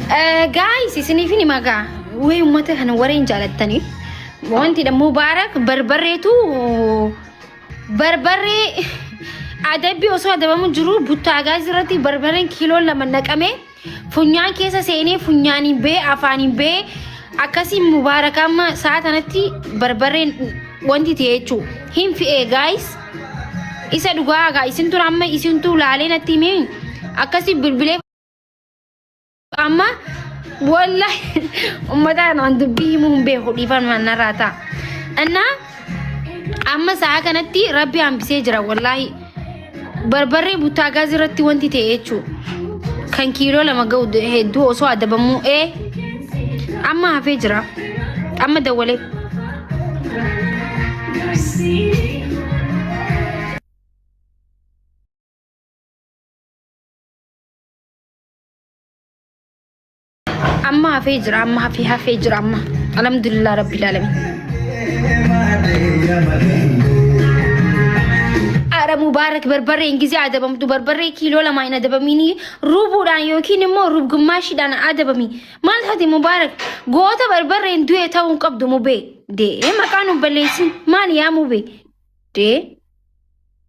Gaayis isiniif ni magaa wee uummata kana wareen jaalattaniif wanti dha mubaarak barbarreetu barbarree adabbii osoo adabamu jiru buttaa gaayis irratti barbarreen kiiloon lama naqamee funyaan keessa seenee funyaaniin bee afaaniin bee akkasiin mubaarak amma sa'a tanatti barbarreen wanti ta'e jechuu hin fi'ee gaayis isa dhugaa gaa isin tura amma isintu laalee natti himee akkasii bilbilee Amma wallahi ummata kanaan dubbii himuu hin beeku dhiifama narraa ta'a. Innaa amma sa'a kanatti rabbi hambisee jira wallahi. Barbarree buttaa gaazii irratti wanti ta'e jechuudha. Kan kiiloo lama ga'u hedduu osoo adabamuu ee amma hafee jira. Amma dawwalee. Amma hafee jira amma hafee hafee jira amma. Alhamdulillah rabbil alamin. Ara Mubaarak barbarreen gisee adabamtu barbarree kiiloo lama hin adabamiini ruubuudhaan yookiin immoo ruubgummaashiidhaan adabami. Maal taate Mubaarak goota barbarreen du'e ta'uu hin qabdu mubee. Dee maqaan hin balleessin maal yaa mubee. Dee.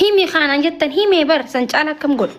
Himi kaanaan jettan himee bar san caala akkam godhu.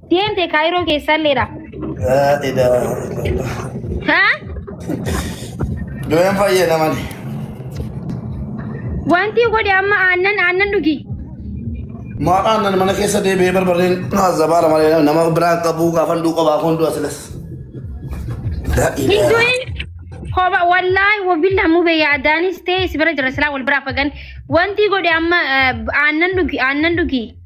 Deemte kaayiroo keessalleedha. Laa ilaaha illallah. Haa? Du'een fayyada malee. Wanti godhe amma aannan aannan dhugi. Maqaan nan mana keessa deebi'ee barbareen zabaala malee nama biraan qabuu gaafan du'u qobaa kun du'a silas. Laa Hin ilaaha. du'in. Koba wallaahi wabillah mube yaadaanis ta'e si bira jira silaa wal biraa fagan. Wanti godhe amma eh, aannan dhugi aannan dhugi.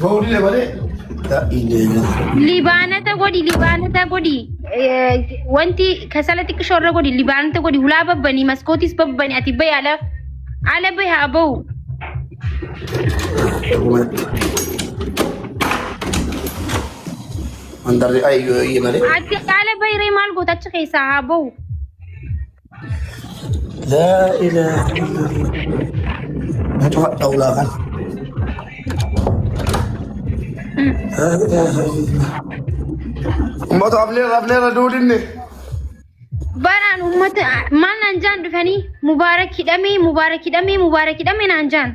Bawuudile malee. Libaanata godhi libaanata godhi Eh, wanti kasala xiqqishoo irra godhi libaanata godhi hulaa babbanii maskootis babbanii ati bahi ala ala bahi haa bahu Mandarri ayyoo eeyyee malee. ati ala bahi ree maal goota achi keessaa haa bahu laa ilaaha illallah na cufadha ulaa kana laa ilaaha illallah ummata afnee afnee irra duudinne Baraan uummata maal naan jaan dhufanii mubaarak hidhamee mubaarak hidhamee mubaarak hidhamee naan jaan.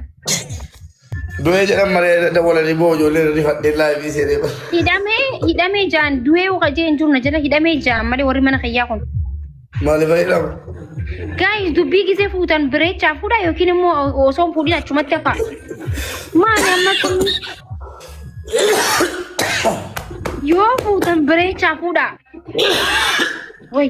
Du'ee jedhan malee dawwalanii boo ijoollee irra rifadhee laayivii seenee bara. Hidhamee hidhamee jaan du'ee uqa jee hin jiru na jala hidhamee jaan malee warri mana kiyyaa kun. Maaliif fayyadamu? Gaayis dubbii gisee fuutan bireechaa fuudha yookiin immoo osoo hin fuudhin achumatti hafaa. Maali amma kun yoo fuutan bireechaa fuudha. Wayi.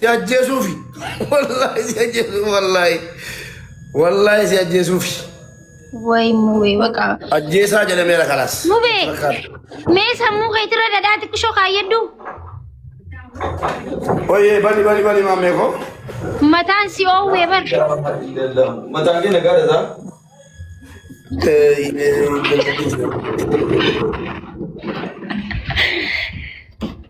Si ajjeesuufi. Wallaahi si ajjeesuufi wallaahi. Wallaahi si ajjeesuufi. Way mubee baqa. Ajjeesaa jedhameera kalaas. Mubee mee sammuu keetirra dhadhaa xiqqishoo kaayyadhu. Oyyee bali bali bali maammee koo. Mataan si oowwee bar. Mataan kee nagaa dhasaa? Eh, eh,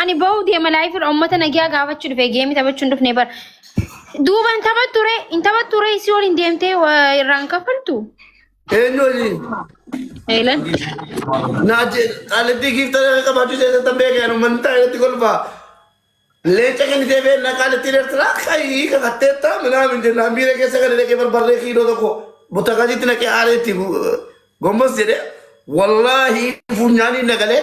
Ani ba'uu deema laayifirra uummata nagaa gaafachuu dhufe geemii taphachuu hin dhufne bara. Duuba hin taphattu ree hin taphattu ree isii waliin deemtee waa irraan kaffaltu. Eenyu waliin? Eelan. Naaje qaalittii giifta qabaachuu isaa tan beekan uummanni taa'eetti kolfaa. Leenca kennitee beekna qaalittiin Eertiraa kayii kakatteetta minaa min jennaan biira keessa gadi dhaqee barbarree kiiloo tokko butakaasiitti naqee aaleetti gombos jedhee wallaahi funyaaniin nagalee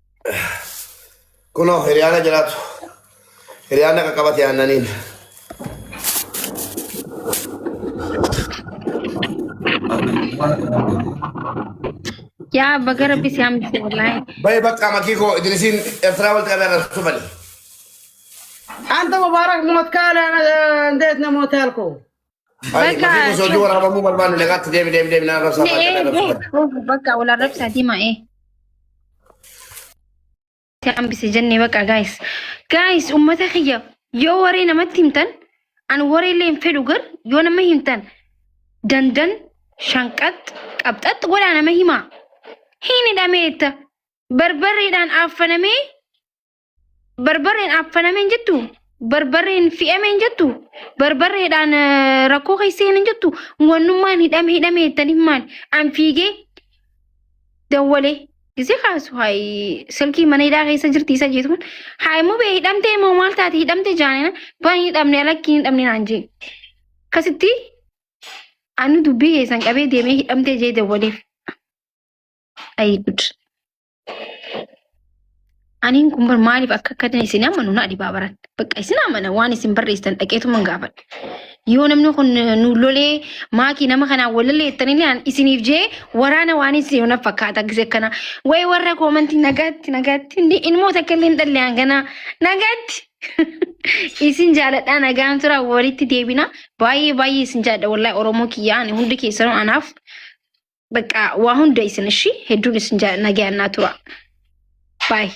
Kunoo hiriyaana jiraatu. Hiriyaana qaqqabate aannaniin. Yaa baga rabbi si hambise wallaahi. Baye bakka makii koo idilisiin Ertiraa walitti qabee arrabsu bali. Anta Mubaarak Mootkaala Ndeet Namootaal koo. Ani Bakka mafiif osoo hojii waraabamuu barbaanne nagaatti deemi deemi deemi naa rabsaa fa'aa jedhaa rabsu fa'aa. Ogu bakka wal arrabsaa dima ee. Itti hambise jennee bakka gaayis. Gaayis uummata kiyya yoo waree namatti himtan an waree illee hin fedhu gar yoo nama himtan dandan shanqax qabxax godhaa nama himaa. Hin hidhameetta barbarreedhaan affanamee Barbarreen affaname hin jettu. Barbarreen fi'ame hin jettu. Barbarreedhaan eh, rakkoo keessa hin jettu. Wannummaan hidhame hidhame jettaniif maal? An fiigee dawwalee. Gisee kaasu hayi silkii mana hidhaa keessa jirti isa jeetu kun. Hayi mubee hidhamtee moo maal taate hidhamtee jaanina bani hidhamne alakki hin hidhamne naan jee. Akkasitti ani dubbii keessan qabee deemee hidhamtee jee dawwaleef. Ayi gud. Aniin kun bar maaliif akka akka ta'e isin amanu na dhibaa baran. Bakka isin amana waan isin barreessitan dhaqeetuma hin gaafadhe. Yoo namni kun nu lolee maakii nama kanaan walalee jettanilee an isiniif jee waraana waan isin na fakkaata gise kana. Way warra koomantii nagaatti nagaatti inni ilmoo takka illee hin dhalle hangana nagaatti. Isin jaaladhaa nagaan tura walitti deebina. Baay'ee baay'ee isin jaalladha wallahi Oromoo kiyyaa ani hundi keessanuu anaaf Bakka waa hunda isin ishii hedduun isin jaalladha nagayaan naa tura. Baay'ee.